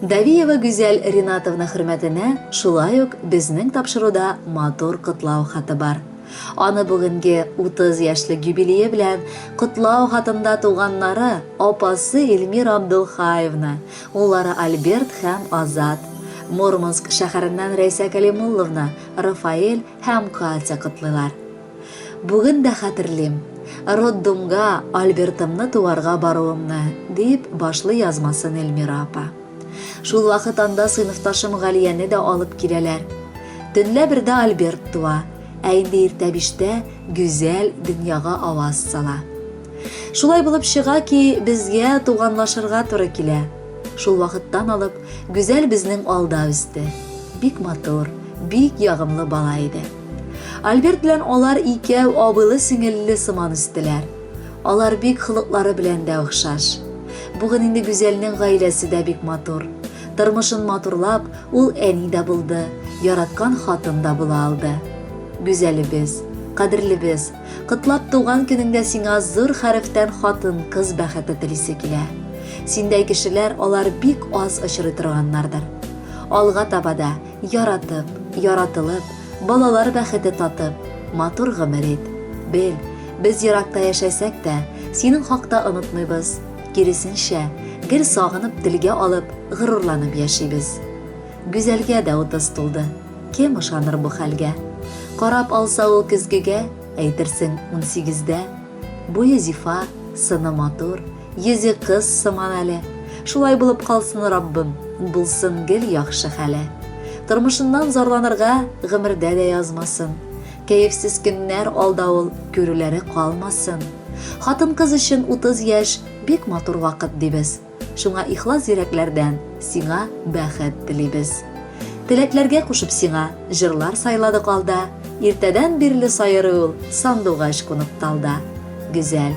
Давиева Гүзәл Ринатовна хөрмәтенә шулай ук безнең тапшыруда матур котлау хаты бар. Аны бүгенге 30 яшьлек юбилее белән котлау хатында туганнары, апасы Эльмира Абдулхаевна, уллары Альберт һәм Азат, Мурманск шәһәреннән Рәйсә Кәлимулловна, Рафаэль һәм Катя котлыйлар. Бүген дә хәтерлим, роддомга Альбертымны туарга баруымны, дип башлый язмасын Эльмира апа. Шул вакыт анда сыйныфташым Галияне дә алып киләләр. Төнлә бердә Альберт туа, ә инде иртә биштә Гүзәл дөньяга аваз сала. Шулай булып чыга ки, безгә туганлашырга туры килә. Шул вакыттан алып Гүзәл безнең алда үсте. Бик матур, бик ягымлы бала иде. Альберт белән алар икәү абыйлы-сеңелле сыман үстеләр. Алар бик холыклары белән дә охшаш. Бүген инде Гүзәлнең гаиләсе дә бик матур. Тормышын матурлап, ул әни дә булды, яраткан хатын да була алды. Гүзәлебез, кадерлебез, котлап туган көнеңдә сиңа зур хәрефтән хатын, кыз бәхете телисе килә. Синдәй кешеләр алар бик аз очрый торганнардыр. Алга таба да Яратып, яратылып, балалар бәхете татып, матур гомер ит. Бел, без еракта яшәсәк тә, синең хакта онытмыйбыз. Киресенчә, гел сагынып, телгә алып, горурланып яшибез. Гүзәлгә дә утыз тулды. Кем ышаныр бу хәлгә? Карап алса ул көзгегә, әйтерсең, унсигездә. Буе зифа, сыны матур, Йөзе кыз сыман әле. Шулай булып калсын, Раббым, булсын гел яхшы хәле. Тормышыннан зарланырга гомердә дә язмасын. Кәефсез көннәр алда ул, күрүләре калмасын. Хатын-кыз өчен 30 яшь бик матур вакыт дибез. Шуңа ихлас йөрәкләрдән сиңа бәхет телибез. Теләкләргә кушып сиңа җырлар сайладык алда. Иртәдән бирле сайрый ул сандугач кунып талда. Гүзәл,